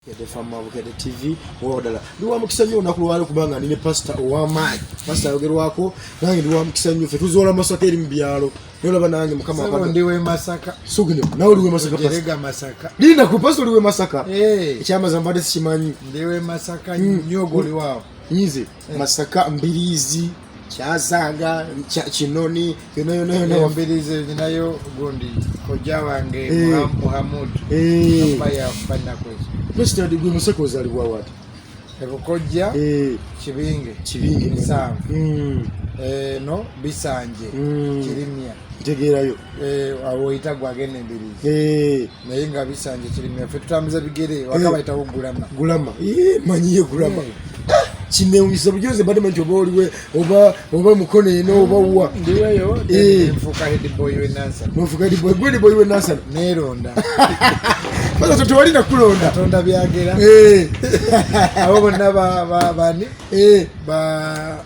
Kede fama Bukede TV wodala ndi wa mukisa nnyo olunaku lwalo kubanga ndi ne pasita ow'amaanyi pasita ayogerwako nange ndi wa mukisa nnyo ffe tuzoola masaka eri mu byalo naye olaba nange mukama Sebo ndi w'e Masaka sugino nawe oli w'e Masaka Jerega Masaka linda ku pasita oli w'e Masaka eh. ekyamaza mbadde sikimanyi ndi w'e Masaka hmm. nnyo goli waawo nyize masaka mbirizi kyazanga kinoni yonoyonoyono eh, mbirizi ninayo gundi koja wange eh. muhamud yafanakwesto gwe musaka ozalibwa wati ebukojja eh. kibinge kibinge misanvu hmm. eh, no bisanje hmm. kirimya ntegeerayo eh, awoyita gwagenda embirizi naye nga bisanje kirime ffe tutambuza bigere eh. wakabayitawo gulama gulama eh, manyiye gulama eh. ah, kinewunyisa bujozi mbadde manti oba oliwe oba oba mukono eno oba wa ndiweyo nfuka hediboy wenansana nfuka hediboy gwe hediboy wenansana neronda Bada tutu wali na kulonda Tonda biagera Eee Awo bonna ba Bani Eee Ba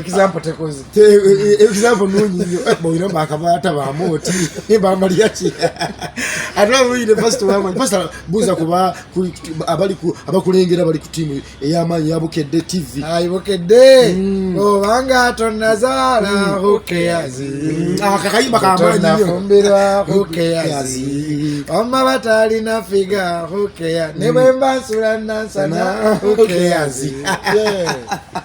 example tekoze te e, e, example nunyi nyo eh, bo ino bakabata ba moti ni ba mariachi atwa mu university wa mwa pasta buza kuba abali ku abakulengera bali ku timu eyama ya bukedde tv ayi bukedde mm. o banga tonazala mm. okay yazi mm. ah, akakayi bakama nyo fumbirwa okay yazi amma batali na figa okay ya ne bemba sulana sana okay yazi yeah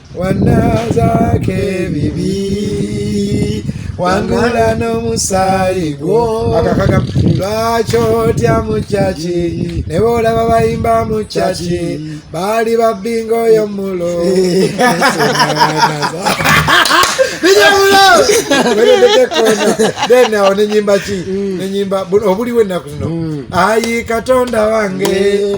wanazaako ebibi wangula n'omusaayi gwo lwaki otya mu caki ne boolaba bayimba mu caki baali babbinga oyo mulo then awo nenyimba ki mm. nenyimba obuliwo ennaku zino mm. ayi katonda wange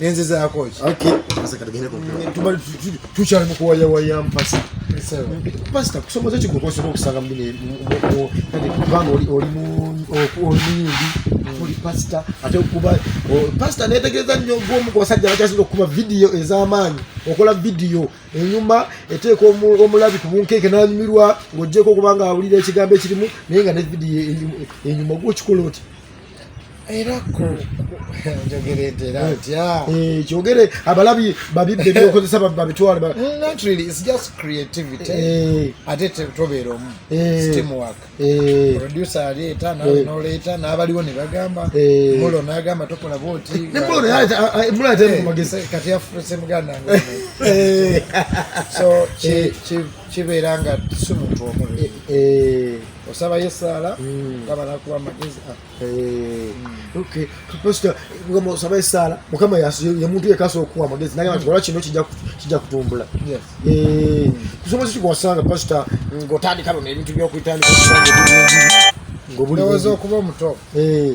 nenze zako ki okay sasa katagenda kwa mm, tumali tuchale mko ya waya mpasa sawa pasta kusoma zachi kwa sababu kusanga mbine mko kadi bango oli oli mu oli ndi oli pasta ate kuba pasta ne tegeza nyo gwo mko wasajja bachazi kuba video ezamanyi okola video enyuma eteko omulabi kubunkeke nanyumirwa ngojeko kubanga awulira ekigambo ekirimu naye nga ne video enyuma gwo kikola oti era kyogere abalabi babibbe ebyokozesa babitwale ate tobeera omu steamwork producer aleeta nawe noleeta n'abaliwo ne bagamba mulo n'agamba tokola bwoti kati afuse muganda so kibeera nga si muntu omu osabayo esaala hmm. nga balakuwa amagezi ah. eh, hmm. pasita mukama osaba esaala mukama yemuntu yekasa okuwa amagezi naye nti kola kino kijja kutumbula eh, kusobozi kikwasanga pasita ngaotandika luno ebintu byokutandika ngaobuliweza okuba omuto eh.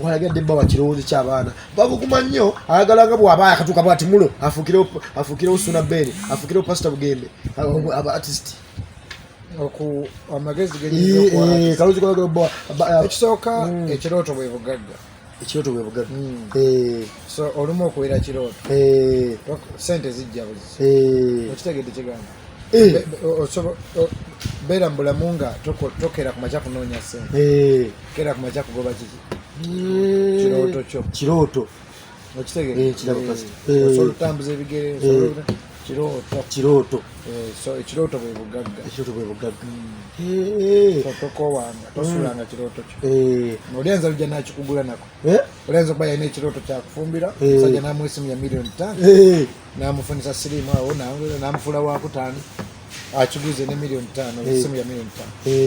walagadde bba wakirowoozo kyabaana babuguma nnyo ayagala nga bwaba akatuuka bwati mulo afukirewo suna beni afukirewo pasita bugembe aba artist amagezi ekisooka ekirooto bwe bugagga ekirooto bwe bugagga olumu okuwera kirooto sente zijja buzi okitegedde kigambo eh. beera mubulamu nga tokera ku makya kunoonya sente eh. kera ku makya kugoba kiki eh. kirooto kyo kirooto okitegeeosobola otambuza ebigere kirooto ekirooto bwe bugagga ekirooto bwe bugagga hmm. tokowanga tosulanga hmm. kirooto kyo olyanza lujja nakikugula nako olyanza okuba yalina ekirooto kyakufumbira musajja namwesimu ya miliyoni tano namufunisa sirimu awo namufula wakutaano akiguze ne miliyoni taano esimu ya miliyoni taano